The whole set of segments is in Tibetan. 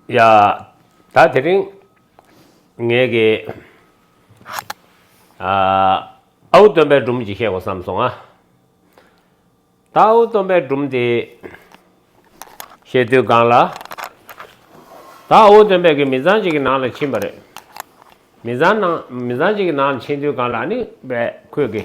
ཡ། ད་དེ་རིང། ངེད་ཀྱི། ཨ། ཨའུ་སྟོན་པའི་སྒྲུང་ཅིག་བཤད་དགོས་བསམ་སོང་ང། ད་ཨའུ་སྟོན་པའི་སྒྲུང་དེ། བཤད་དུས་སྒང་ལ། ད་ཨའུ་སྟོན་པས་གི་མི་ཚང་ཅིག་གི་ནང་ལ་ཕྱིན་པ་རེད། མི་ཚང་ནང་མི་ཚང་ཅིག་གི་ནང་ལ་ཕྱིན་དུས་སྒང་ལ་ཨ་ནི་པས་ཁོས་གི།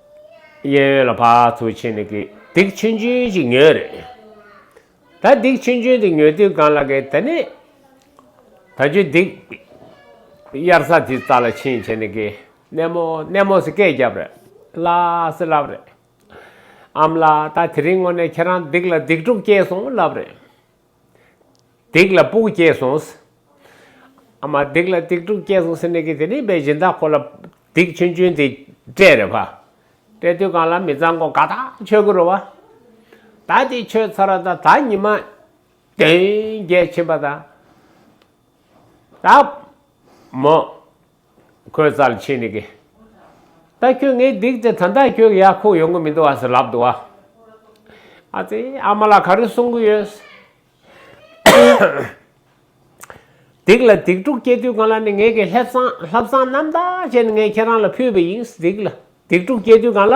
གཡས་གཡོན་ལ་བག་ཚོ་ཆེན་ནི་གི་སྡིག་ཆེན་ཆུན་གྱིས་ཉོས། རེད་ད་སྡིག་ཆེན་ཆུན་དེ་ཉོས་དུས་གང་ལ་གི་ད་ནི། ད་ཆུ་སྡིག། དབྱར་ས་དེའི་རྩ་ལ་ཕྱིན་བྱས་ནི་གི། གནས་མོ་གནས་མོ་སི་སྐད་བརྒྱབ། རེད་བླ་སི་ལབ་རེད། ཨམ་ལ་ད་དེ་རིང་ངོ་ནས་ཁྱེད་རང་སྡིག་ལ་སྡིག་དྲུག་སྐྱེས་སོང་ལབ་རེད། སྡིག་ལ་སྤུག་སྐྱེས་སོང། ཨ་མ་སྡིག་ལ་སྡིག་དྲུག་སྐྱེས་སོང་ཟེར་ནས་ཀི་དེ་རིག་པའི་སྦྱིན་བདག་ཁོ་ལ་སྡིག་ཆུན་ཆུན་དེ་སྤྲད་རེ་བ། སྤྲད་དུས་གང་ལ་མི་གཙང་གོ་ག་དག་ཆོས་ཀུ་རུ་བ། ད་འདི་ཆོས་ཚར་བ་དང་ད་ཉི་མ་དོན་རྒྱལ་ཕྱིན་པ་དང། ད། མོ། ཁོས་རྩ་ལ་ཆས་ནས་ཀི། ད་ཁྱོད་ངའི་སྡིག་ཅེས་ད་ལྟ་ཁྱོད་ཀྱི་ཡར་ཁུག་ཡོང་གི་མི་འདུག་ཨ་ཟེར་ལབ་འདུག་ཨ། ཨ་ཙི། ཨ་མ་ལགས་ག་རེ་གསུང་གི་ཡོད། སྡིག་ལ་སྡིག་དཀྲུགས་སྐྱེ་དུས་གང་ལ་ནི་ངེད་ཀྱིས་ལྷེབ་སང་ལྷབ་སང་རྣམ་དག་བྱས་ནས་ངས་ཁྱེད་རང་ལ་ཕུལ་བས་ཡིན། སྡིག་ལ་སྡིག་དཀྲུགས་སྐྱེ་དུས་གང་ལ།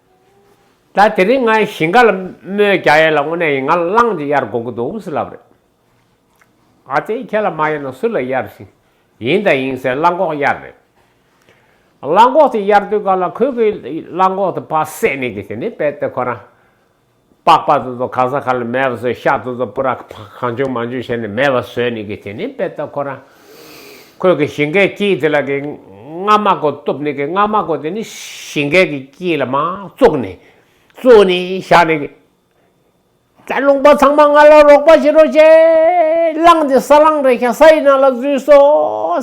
ད་དེ་རིང་ངའི་ཞིང་ཁ་ལ་མོའི་རྒྱ་ཡལ་ལ་དངོས་གནས་ཡིན་ང་ལ་གླང་གཅིག་གཡར་དགོ་གི་འདུག་འུ་སུ་ལབ་རེད། ཨ་ཙེ་ཁྱེད་ལ་མ་གཡར་ན་སུ་ལ་གཡར་ཞིང་ཡིན་དང་ཡིན་ཟེར་གླང་གོག་གཡར་རེད། གླང་གོག་དེ་གཡར་དུས་ག་ལ་ཁོས་ཁོའི་གླང་གོག་དེ་ཕ་བསད་ནས་ཀྱི་དེ་ནས་བལ་ཏེ་ཁོ་རང་པགས་པ་དེ་ཚོ་གང་ས་ག་ལ་མེད་པ་ཚོས་ཤ་དེ་ཚོ་པུ་ར་གང་བྱུང་མང་བྱུང་བྱས་ནས་མེད་པ་བཟོས་ནི་གི་དེ་ནི་དཔེ་ལྟ་ཁོ་རང་ཁོས་གི་ཞིང་ཁའི་སྐྱིད་དེ་ལ་གི་རྔ་མ་གོ་གཏུབ་ནི་གི་རྔ་མ་གོ་དེ་ནི་ཞིང་ཁའི་གི་སྐྱིད་ལ་མ་བཙུགས་ནི་བཙུགས་ནི་བཞག་ནི་གི། ད་རླུང་པ་ཚང་མ་ང་ལ་རོགས་པ་བྱེད་རོགས་བྱེད་གླང་དེ་ས་གླང་རེད་ཤག་ས་ཡི་ནང་ལ་བཟོས་སོ་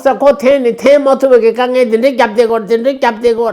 ཟེར་ཁོ་འཐེན་ནི་འཐེན་མ་ཐུབ་པ་གི་དཀའ་ངལ་དེ་འདྲས་བརྒྱབ་དེ་གོ་དེ་འདྲས་བརྒྱབ་དེ་གོ།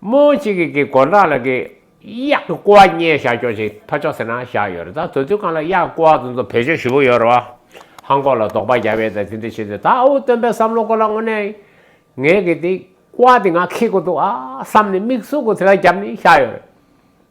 མོ་གཅིག་གིས་གིས་གོ་འདྲ་ལ་གིས། གཡག་གི་ཀོ་བ་རྙེད་བཞག་ཀྱོག་ཅིག་ཐོ་ཅོག་ཟེར་ན་བཞག་ཡོད་རེད་ད་དོ་དུས་གང་ལ་གཡག་གི་ཀོ་བ་དེ་ཚོ་བེད་སྤྱོད་བཞི་པོ་ཡོད་རེད་བ། ཧང་ཀོག་ལ་དོགས་པ་རྒྱག་པའི་ད་དེ་འདྲ་བྱེད་དུས་ད་འུ་སྟོན་པའི་བསམ་བློ་ཀོ་ལ་དངོས་གནས་ངས་གིས་དེ་ཀོ་བ་དེ་ང་ཁེ་དགོས་འདུག་ཨ་བསམ་ནས་མིག་ཟུག་གོ་དེ་ལ་རྒྱབ་ནས་བཞག་ཡོད་རེད།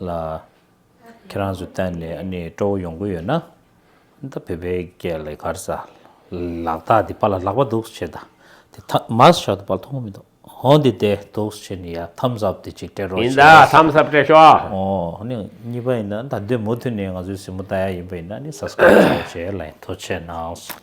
ལ། ཁྱེད་རང་ཚོས་གཏན་ནས་ཨ་ནི་སྤྲོ་བོ་ཡོང་གི་ཡོད་ན། ད་བོད་པའི་སྐད་ལས་གར་ས། ལག་རྟགས་འདི་པ་ལ་ལག་པ་འདུག་བྱེད་ད། དེ་ཐ་མགས་ཞག་ཏུ་པ་ལ་མཐོང་གི་མི་འདུག་ཧོ་འདི་བདེ་འདུག་བྱེད་ནི་ཡ་ཐམ་ཟབ་དེ་ཅིག་སྤྲད་རོགས་ཡིན་ད་བྱས། ཐམ་ཟབ་སྤྲད་ཤོག། ཨོ་ཨོ་ནི་གཉིས་པ་ཡིན་ན་ད་འདོད་མུ་མཐུད་ནས་ང་ཚོའི་སྲིང་མོ་རྟ་ཡ་ཡིན་པ་ཡིན་ན་ནི Subscribe བྱའོ་བྱས་ལ་ཡིན་ཐོ་ཆད་གནང་སོང།